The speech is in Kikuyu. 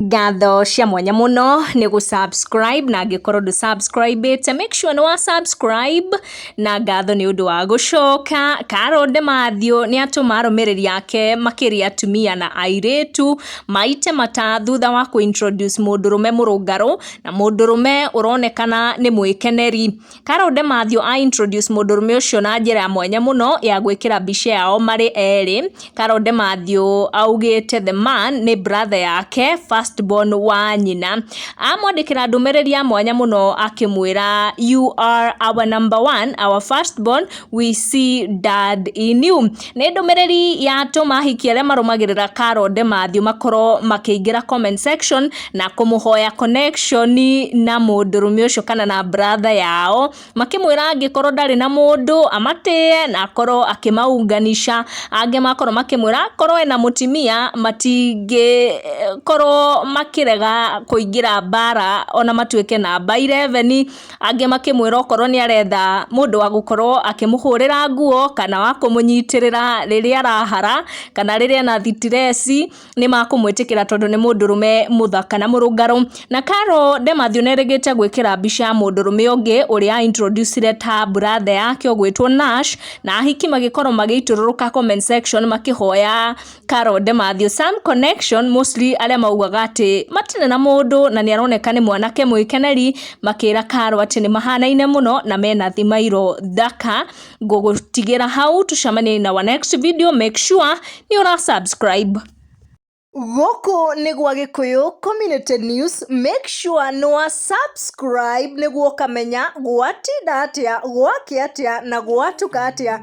Ngatho cia mwanya mũno nĩ gũ subscribe na angĩkorwo ndũ subscribe ĩte make sure nĩ wa subscribe na ngatho nĩ ũndũ wa gũcoka. Carol Demathew nĩ atũma arũmĩrĩri ake makĩria atumia na airĩtu maite mata thutha wa kũ introduce mũndũrũme mũrũngarũ na mũndũrũme ũronekana nĩ mwĩkeneri. Carol Demathew a introduce mũndũrũme ũcio na njĩra ya mwanya mũno ya gwĩkĩra mbica yao marĩ erĩ. Carol Demathew augĩte the man nĩ brother yake first born wa nyina. Amwandĩkĩra ndũmĩrĩri ya mwanya mũno akĩmwĩra you are our number one, our first born, we see dad in you. Nĩ ndũmĩrĩri ya tũma hiki arĩa marũmagĩrĩra Carol Demathew makorwo makĩingĩra comment section na kũmũhoya connection na mũndũrũme ũcio kana na brother yao makĩmwĩra angĩkorwo ndarĩ na mũndũ amatĩe na akorwo akĩmaunganisha angĩ makorwo makĩmwĩra akorwo ena mũtimia matingĩkorwo makĩrega kũingĩra mbara ona matuĩke namba 11 angĩ makĩmwĩra okorwo nĩ aretha mũndũ wa gũkorwo akĩmũhũrĩra nguo kana wa kũmũnyitĩrĩra rĩrĩa arahara kana rĩrĩa ena thitireci nĩ makũmwĩtĩkĩra tondũ nĩ mũndũrũme mũthaka na mũrũngarũ. Na Carol Demathew nĩ erĩgĩte gwĩkĩra mbica ya mũndũrũme ũngĩ ũrĩa a introduce ire ta brother yake ũgwĩtwo Nash na ahiki magĩkorwo magĩitũrũrũka comment section makĩhoya... Carol Demathew, Sam Connection mostly arĩa maugaga atĩ matirĩ na mũndũ na nĩ aroneka nĩ mwanake mwĩkeneri makĩra Carol atĩ nĩ mahanaine mũno na mena thimairo thaka ngũgũtigĩra hau tucemanie na our next video make sure nĩ ũra subscribe Gũkũ nĩ gwa Gĩkũyũ Community News, make sure nĩ wa subscribe nĩguo ũkamenya gwatinda atĩa, gwakĩ atĩa na gwatuka atĩa.